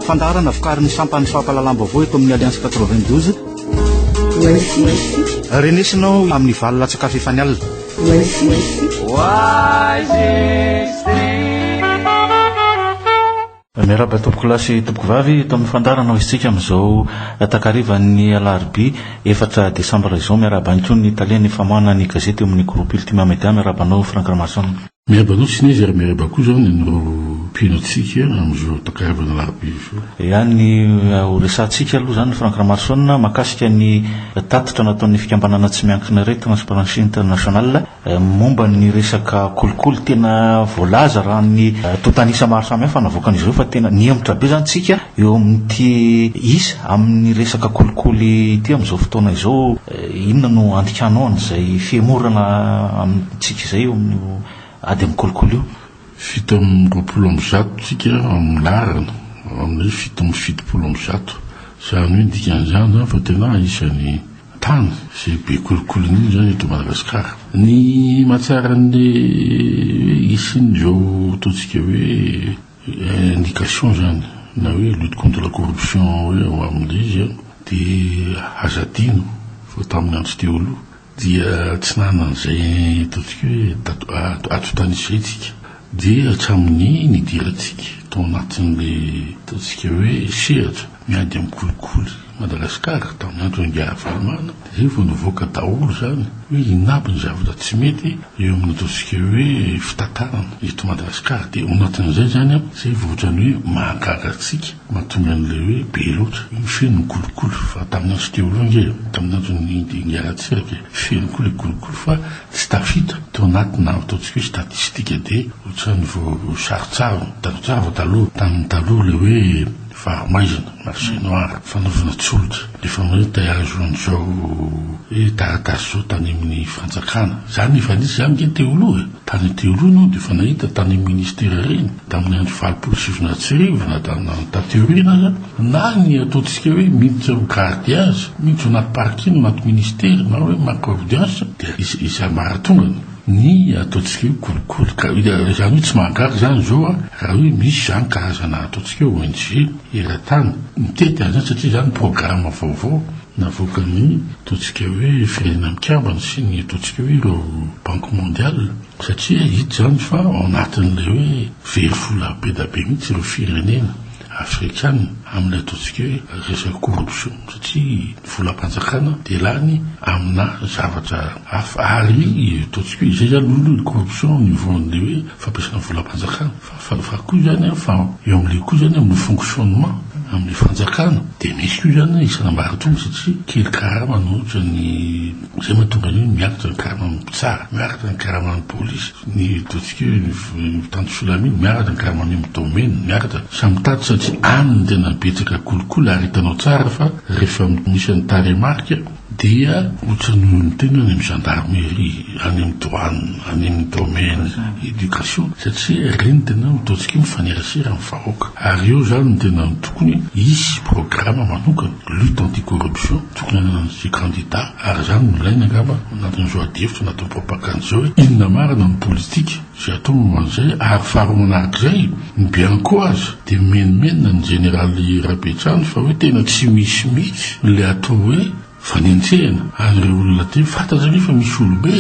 Fandaharana vokarin'ny sampan'ny fampahalalam-baovao eto amin'ny Alliance 92. Renesina ao amin'ny valo latsakafo efa ny alina. Wisest Miarahaba tompokolahy sy tompokovavy eto amin'ny fandaharana ho izintsika amin'izao takarivan'ny alarobia efatra desambra izao. Miarahaba ihany koa ny talen'ny famoahana ny gazety eo amin'ny groupe Ultima Media. Miarahaba anao Franck Ramason. Miarahaba anao Tsines ary miarahaba koa izany anareo mpino antsika amin'izao takarivan'ny alarobia izao. Ea ny ho resahantsika aloha izany Franck Ramason mahakasika ny tatitra nataon'ny fikambanana tsy miankina iray Transparency International Momba ny resaka kolikoly, tena voalaza raha ny tontan'isa maro samihafa navoakan'izy ireo fa tena nihemotra be izany isika eo amin'ity isa amin'ny resaka kolikoly ity amin'izao fotoana izao. Inona no andikanao an'izay fihemorana amintsika izay eo amin'io ady amin'ny kolikoly io? Fito amby roapolo amby zato isika amin'ny laharana, amin'ny fito amby fitopolo amby zato. Izany hoe ny dikan'izany izany fa tena isan'ny tany izay be kolikoly indrindra izany eto Madagasikara. Ny mahatsiaro an'ilay hoe hisian'izao ataontsika hoe indication izany na hoe lutte contre la corruption hoe ao amin'ilay izy an, dia aza adino fa tamin'ny andro teo aloha dia tsy nanana an'izay ataontsika hoe atontan'isa isika dia hatramin'ny nidirantsika tao anatin'ilay ataontsika hoe sehatra. Miady amin'ny kolikoly Madagasikara tamin'ny andron'i Ingahiravalomanana, dia izay vao nivoaka daholo izany hoe hinabo ny zavatra tsy mety eo amin'ny ataontsika hoe fitantanana eto Madagasikara. Dia ao anatin'izay izany, izay vao ohatran'ny hoe mahagaga antsika, mahatonga an'ilay hoe be loatra, hoe feno ny kolikoly. Fa tamin'ny andro teo aloha ange, tamin'ny andron'i Ingahirantsiraka e, feno koa ilay kolikoly fa tsy tafita tao anatina ataontsika hoe statistika. Dia ohatran'ny vao sarontsarona, taloha, tamin'ny taloha ilay hoe. Fahamaizana, marché noir, fanaovana tsolika, efa mahita ahy azo an'izao hoe taratasy zao tany amin'ny fanjakana, zany efa nisy zany nge teo aloha e, tany an teo aloha enao dia efa nahita tany amin'ny ministera ireny tamin'ny andro valopolo sy sivinjato sy arivo na na taty aoriana aza, na ny ataontsika hoe miditra ho garde azy, miditra anaty parking anaty ministera na hoe manko audience dia iza iza maratongany. ny ataontsika hoe kolikoly ka izany hoe tsy mahagaga izany izao a raha hoe misy izany karazana ataontsika hoe ONG eran-tany mitety an'izany satria izany programa vaovao navoakan'ny ataontsika hoe Firenena Mikambana sy ny ataontsika hoe ireo Banque Mondiale satria hita izany fa ao anatin'ilay hoe very vola be dia be mihitsy ireo firenena. Afrikana amin'ny ataontsika hoe resaka corruption satria ny volam-panjakana dia lany amina zavatra hafa ary ataontsika hoe izay izany no hoe corruption au niveau an'ilay hoe fampiasana volam-panjakana fa fa fa koa izany an fa eo amin'ilay koa izany amin'ny fonctionnement amin'ny fanjakana dia misy koa izany isan'ambaratonga satria kely karama no ohatra ny izay mahatonga an'io miakatra ny karaman'ny mpitsara miakatra ny karaman'ny polisy Ny Dotike, ny Mpitandro filamina, miaratra, ny Garmanium Domaine, miaratra, samy mitady satria any no tena betsaka kolikoly ary hitanao tsara fa rehefa misy an'ny tarehimarika dia ohatran'ny ny tena any amin'ny Gendarmerie, any amin'ny Douane, any amin'ny Domaine, Education satria ireny tena no ataontsika mifanerasera amin'ny vahoaka ary eo izany no tena tokony hisy programa manokana, lutte anti-corruption, tokony hanana an'izay kandida. Ary izany no ilaina angamba ao anatin'izao adihevitra nataon'i Propagande izao hoe inona marina no politika izay atao momba an'izay ary faharoa manarak'izay ny bianco aza dia mimenomenona ny jeneraly Rabetrano fa hoe tena tsy misy mihitsy ilay atao hoe fanenjehana an'ireo olona teo fantatra anie fa misy olobe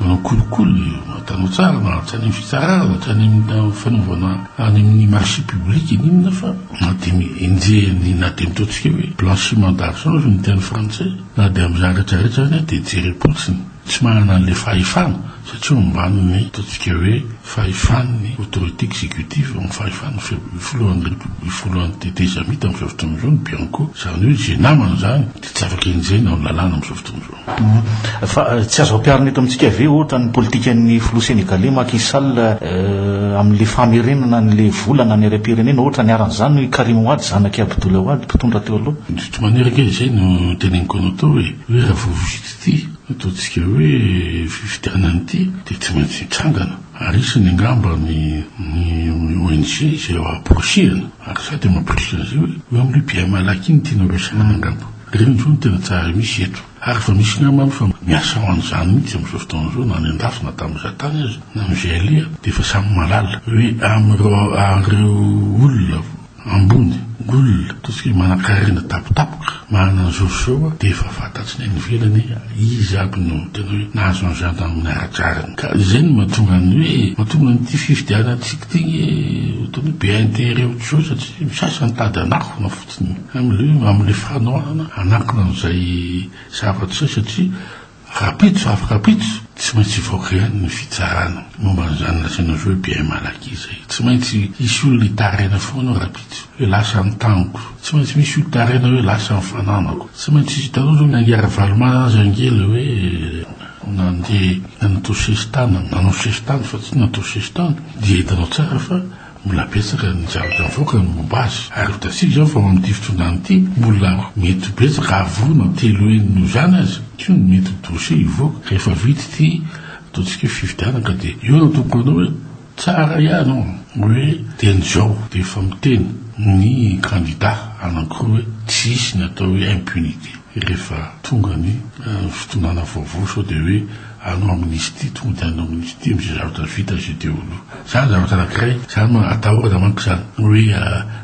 manao kolikoly matanao tsara na tsy any amin'ny fitsarana na tsy any amin'ny fanaovana any amin'ny marché public na inona fa na dia enjehiny na dia ny ataontsika hoe blanchiment d'argent hozy no teny frantsay Na dia amin'ny zavatra rehetra aza dia jerem-potsiny tsy manana an'ilay fahefana satria ao ambanin'ny ataontsika hoe fahefan'ny autorité exécutive, amin'ny fahefan'ny filohan'ny République, filohan'ny tetezamita amin'izao fotoana izao ny Bianco. Izany hoe izay namana izany dia tsy afaka enjehina ao amin'ny lalàna amin'izao fotoana izao. Fa tsy azo ampiharina eto amintsika ve ohatra ny politikan'ny filoha Sénégalais Macky Sall amin'ilay famerenana an'ilay vola na ny harem-pirenena ohatra niharan'izany i Karim Wade zanak'i Abdoulaye Wade mpitondra teo aloha? Tsy manerika izay no teneniko anao tao e, hoe raha vao vita ity nataontsika hoe fifidianana ity dia tsy maintsy hitsangana ary hisy ny angamba ny ny ONG izay amporisihana ary za dia mamporisika an'izay hoe eo amin'io BMALAC iny tianao resahana angamba, ireny izao no tena tsara misy eto ary efa misy namana efa miasa ho an'izany mihitsy amin'izao fotoana izao na any andafy na tamin'iza tany aza na amin'izay aleha dia efa samy mahalala hoe amin'ireo ireo olona ambony, gul, ataontsika hoe manankarena tapotapoka, manana ny zo zao dia efa fantatry ny any ivelany hoe izy aby no tena hoe nahazo an'izany raha amin'ny ara-drariny. Ka izay no mahatonga ny hoe, mahatonga an'ity fifidianantsika ity hoe ataon'ny hoe be intérêt autre chose satria ny sasany mitady hanakona fotsiny amin'ilay hoe, amin'ilay fanohanana hanakona an'izay zavatra izay satria, Rapitso avy rapitso, tsy maintsy hivoaka ihany ny fitsarana momba an'izany lazainao hoe bien mal acquis izay. Tsy maintsy hisy olona hitaraina foana ao rapitso hoe lasa ny taniko. Tsy maintsy misy hotaraina hoe lasa ny fananako. Tsy maintsy hitanao izao ny an'i Ravalomanana aza ange ilay hoe nandeha nanao sesitany, nanao sesitany fa tsy natao sesitany dia hitanao tsara fa Mbola betsaka ny zavatra avoaka ny momba azy ary hitantsika izao fa ao amin'ity fitondrana ity mbola mety ho betsaka hahavonona telo heny noho izany aza koa ny mety dossier hivoaka rehefa vita ity ataontsika hoe fifidianana ka dia eo no tokony hanao hoe tsara ihany an! hoe teny izao dia efa miteny ny kandida anankiroa hoe tsy hisy ny atao hoe impunité rehefa tonga ny fitondrana vaovao sao dia hoe Hanao amnistie, tonga dia hanao amnistie amzay zavatra vita zay teo aloha. Zany zavatra anakiray, zany no atahorana manko zany, hoe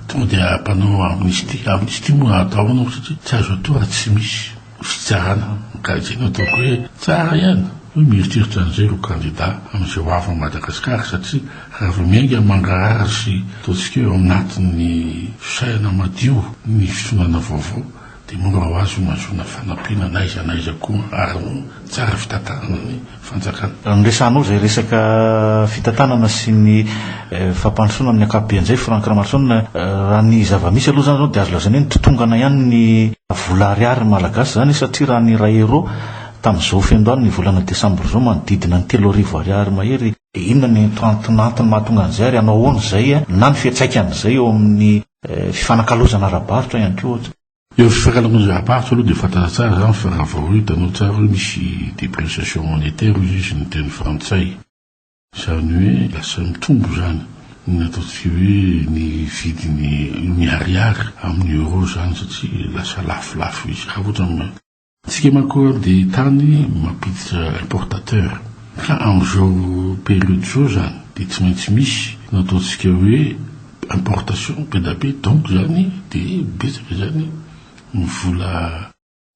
tonga dia mpanao amnistie. Amnistie moa atahorana manko satria tsy azo atao raha tsy misy fitsarana. Ka zay no ataoko hoe tsara ihany hoe mieritreritra anzay ireo kandida amzay ho avy Madagascar satria raha vao miainga mangarahara sy ataontsika hoe ao anatin'ny fisainana madio ny fitondrana vaovao Dia mora ho azy homazoana fanampiana n'aiza n'aiza koa ary ho tsara fitantanana ny fanjakana. Raha noresahanao izay resaka fitantanana sy ny fampandrosoana amin'ny ankapobeany izay Franck Ramaroson, raha ny zava-misy aloha izany izao dia azo lazaina hoe nitotongana ihany ny vola ariary malagasy izany satria raha ny iray euros tamin'izao fendoany ny volana desambra izao manodidina ny telo arivo ariary mahery, dia inona ny anton'antony mahatonga an'izay ary hanao ahoana izay na ny fiantraikan'izay eo amin'ny Fifanakalozana ara-barotra ihany koa ohatra. Eo amin'ny fifanakalozana ara-barotra aloha dia fantatra tsara izany fa raha vao hoe hitanao tsara hoe misy depreciation monétaire hoy izy ny teny frantsay. Izany hoe lasa mitombo izany ny ataontsika hoe ny vidin'ny ny ariary amin'ny euro izany satria lasa lafolafo izy raha ohatra Isika manko dia tany mampiditra importateur ka amin'izao période izao izany dia tsy maintsy misy no ataontsika hoe importation be da be donc izany dia betsaka izany ny vola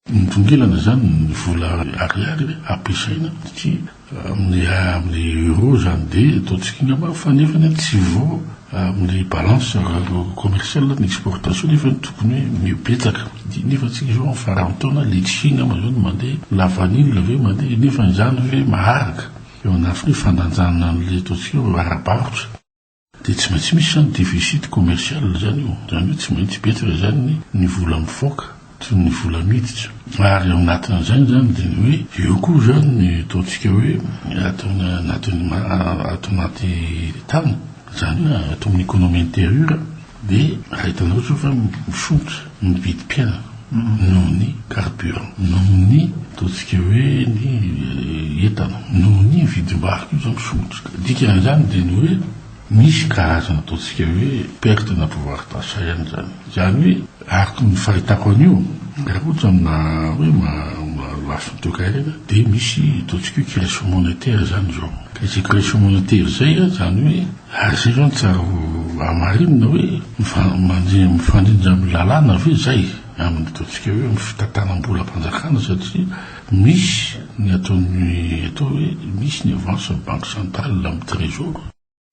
mitongilana izany ny vola ariary ampiasaina satria Amin'ny amin'ny euro izany dia ataontsika angamba fa nefany a tsy vao amin'ny balance commerciale ny exportation nefa ny tokony hoe mibetsaka dia nefa antsika izao amin'ny faran'ny taona litchi angamba izao no mandeha na vanille ve mandeha nefa izany ve maharaka eo anatiny hoe fandanjana an'ilay ataontsika hoe ara-barotra. Dia tsy maintsy misy izany déficit commercial izany eo. Izany hoe tsy maintsy betsaka izany ny vola mivoaka sy ny vola miditra. Ary ao anatin'izany izany dia ny hoe eo koa izany ny ataontsika hoe ato anatin'ny ato anaty tany, izany hoe ato amin'ny économie intérieure. Dia raha hitanareo izao fa mifoitra ny vidim-piainana noho ny carburant, noho ny ataontsika hoe ny entana, noho ny vidim-bary koa izao mifoitra. Ny dikan'izany dia ny hoe misy karazana ataontsika hoe perte na pouvoir d'achat ihany izany. Izany hoe araka ny fahitako an'io, raha ohatra aminà hoe lafiny toekarena dia misy ataontsika hoe création monétaire izany izao. Ka izay création monétaire izay izany hoe. Aza ianao tsara ho hamarinina hoe mifandrindra amin'ny lalàna ve izay amin'ny ataontsika hoe amin'ny fitantanam-bolam-panjakana satria misy ny ataon'ny atao hoe misy ny avansin'ny banque centrale amin'ny trésor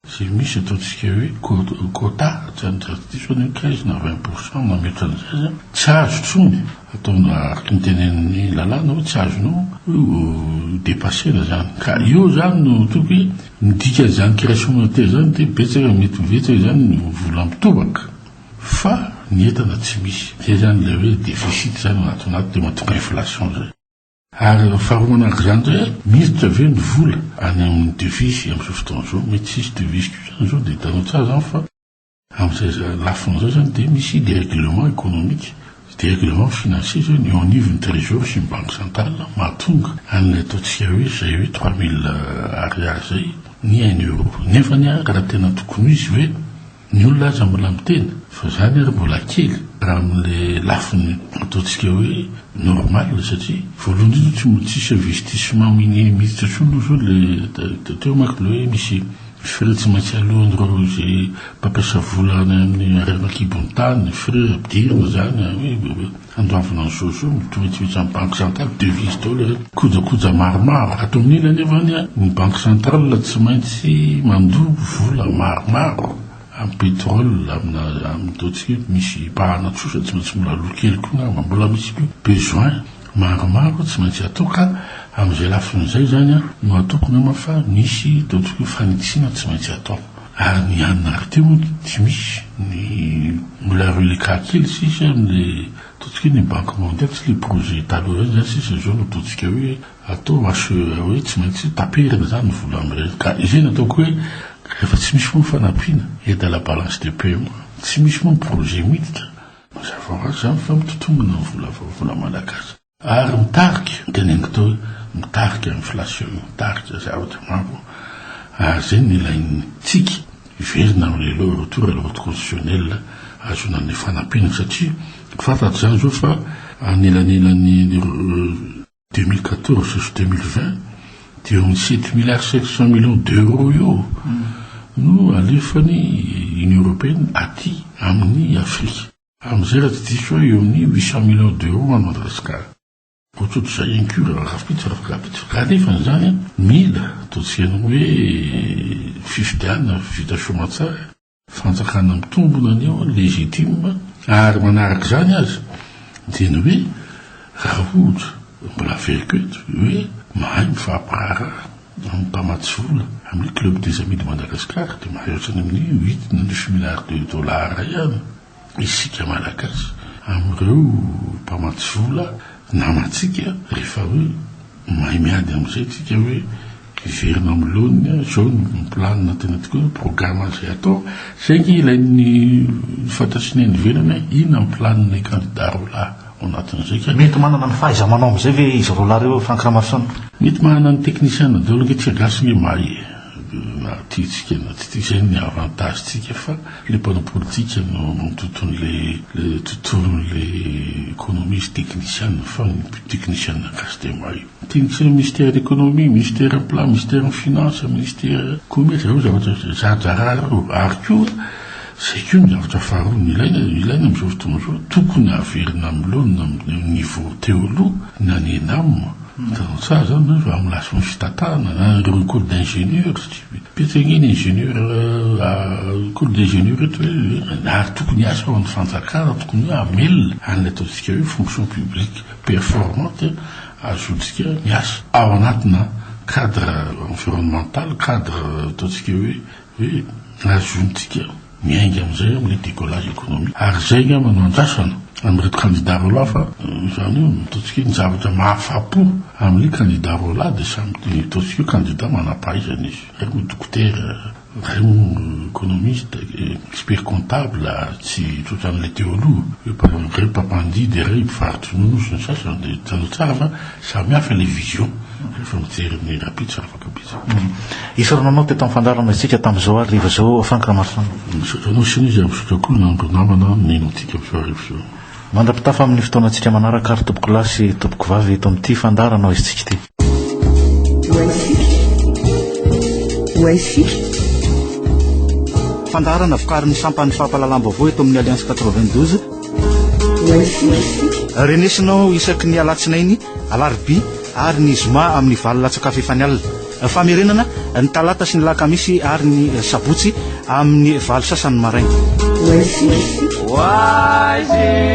izay misy ataontsika hoe quota tsy diso anie quinze na vingt pour cent na mihoatra an'izay an, tsy azo intsony atao araka ny tenen'ny lalàna hoe tsy azonao ho depasser-na izany ka eo izany no tokony Midika izany création monétaire izany dia betsaka mety ho betsaka izany ny vola mitobaka fa ny entana tsy misy. Izay izany ilay hoe déficit izany ao anaty anaty dia mahatonga inflation izay. Ary raha faharoa manaraka izany indray a, miditra ve ny vola any amin'ny devises amin'izao fotoana izao? Mety tsy hisy devises koa izany izao dia hitanao tsara izany fa. Amin'izay lafiny izay izany dia misy dérèglement économique, dérèglement financier izay ny eo anivon'ny trésor sy ny banque centrale mahatonga an'ilay ataontsika hoe izay hoe trois mille ariary izay ny un euro. Nefany ary raha tena tokony ho izy ve? Ny olona aza mbola miteny fa izany ary mbola kely raha amin'ilay lafiny ataontsika hoe normal satria voalohany indrindra tsy mbola tsisy investissement mihitsy intsony aloha izao ilay teo manko ilay hoe misy Frais tsy maintsy aloan'ireo izay mpampiasa vola any amin'ny harena an-kibon'ny tany, frais ampidirina izany hoe handoavina ny soso io, mitovy vitsivitsy amin'ny banque centrale, devise daholo ireny. Kojakoja maromaro, raha toa mila anefa ny an, ny banque centrale tsy maintsy mandoa vola maromaro amin'ny pétrole, amina, amin'itaontsika eto misy mpahana tsosa tsy maintsy mbola aloa kely koa angamba, mbola misy koa besoin. Maromaro tsy maintsy atao ka amin'izay lafiny izay izany no ataoko nama fa nisy teo tokoa fanitsiana tsy maintsy atao. Ary ny an'i Narty hono tsy misy ny mbola reliquat kely sisa amin'ilay tao tokoa ny banque mondiale tsy ilay projet taloha ireny izany sisa izao no ataontsika hoe atao HEA hoe tsy maintsy taperina izany ny vola amin'ireny ka izay no ataoko hoe rehefa tsy misy moa ny fanampiana aide à la balance de paiement tsy misy moa ny projet miditra Mazava ho azy izany fa mitotongona ny vola vavony malagasy ary mitarika, ny teny angita hoe mitarika inflation, mitarika zavatra maro ary izay no ilain'ny tsiky hiverina amin'ilay loi retour à l'ordre constitutionnel hahazoana ny fanampiana satria fantatra izany izao fa anelanelan'ny deux mille quatorze sy deux mille vingt dia eo amin'ny sept milliards cinq cent millions d'euros eo no alefan'ny Union européenne aty amin'ny Afrika. Amin'izay raha tsy diso ahy eo amin'ny huit cent millions d'euros ho an'i Madagasikara. Ohatrohatr'izay ihany koa raha rahampitso rahampitso. Ka nefa izany mila ataontsika ny hoe fifidianana vita soamantsara. fanjakana mitombona ny eo, legitime, ary manaraka izany aza dia ny hoe raha ohatra mbola averiko eto hoe mahay mifampiraharaha amin'ny mpamatsy vola amin'ny club des amis de Madagascar dia mahay ohatrany amin'ny huit na neuf milliards de dollars ihany isika Malagasy amin'ireo mpamatsy vola namantsika rehefa hoe mahay miady amin'izay isika hoe hiverina amin'ny laoniny aho, izao ny planina tena tokoa hoe programa izay atao, izay ange ilay ny fantatry ny any ivelany hoe inona ny planina kandida roa lahy ao anatin'izay ka. Mety manana ny fahaiza-manao amin'izay ve izy roa lahy ireo Franck Ramarison? Mety manana ny technician daholo ange tsika gasy ange mahay e. Na tiantsika na tsy tia, izay ny avantage tsika fa le mpanao politika no manontontony le tontolony le economie sy technician fa ny technician gasy dia may technician ministère d'economie, ministère plan, ministère finance, ministère commerce zay zavatra zarazara reo ary koa zay koa ny zavatra faharoa ny ilaina ilaina amizao fotoana izao tokony averina milona amle niveau teo aloha na ny ENAM Hitanao tsara izany nareo fa amin'ny lafiny fitantanana na ireo écoles d'ingénieur, betsaka ange ny ingénieur écoles d'ingénieur eto hoe ary tokony hiasa ao amin'ny fanjakana, tokony hoe hamelona an'ilay ataontsika hoe fonction publique performante hahazoantsika miasa ao anatina cadre environnemental, cadre ataontsika hoe Dia azontsika miainga amin'izay amin'ilay décollage économique. Ary izay angamba no andrasana amin'ireto candidats roalahy fa izany hoe ataontsika hoe ny zavatra mahafa-po amin'ny candidats roalahy dia samy ataontsika hoe candidats manam-pahaizana izy. Iray moa dokotera, iray moa économiste, expert comptable, tsy tsotra an'ilay teo aloha, iray mpampandihy dia iray mpivarotry ronono sy ny sasany. Dia hitanao tsara fa samy hafa ilay vision rehefa mijery ny rapitsa. Isaorana anao teto amin'ny fandaharana isika tamin'izao hariva izao Franck Ramaroson. Misaotra anao sy izy ary misaotra koa ny andro namana mino antsika amin'izao hariva izao. Mandra-pitafa amin'ny fotoanantsika manaraka ary tompoko lahy sy tompoko vavy eto amin'ity fandaharana Oaisitsika ity. Oaisitsika. Oaisitsika. Fandaharana vokarin'ny sampan'ny fampahalalam-baovao eto amin'ny Alliance 92. Oaisitsika. Renesinao isaky ny alatsinainy, alarobia. ary ny zoma amin'ny valo latsak'afo efa ny alina. Famerenana, ny talata sy ny lakamisy ary ny sabotsy amin'ny valo sasany maraina. Oasis. Oasis.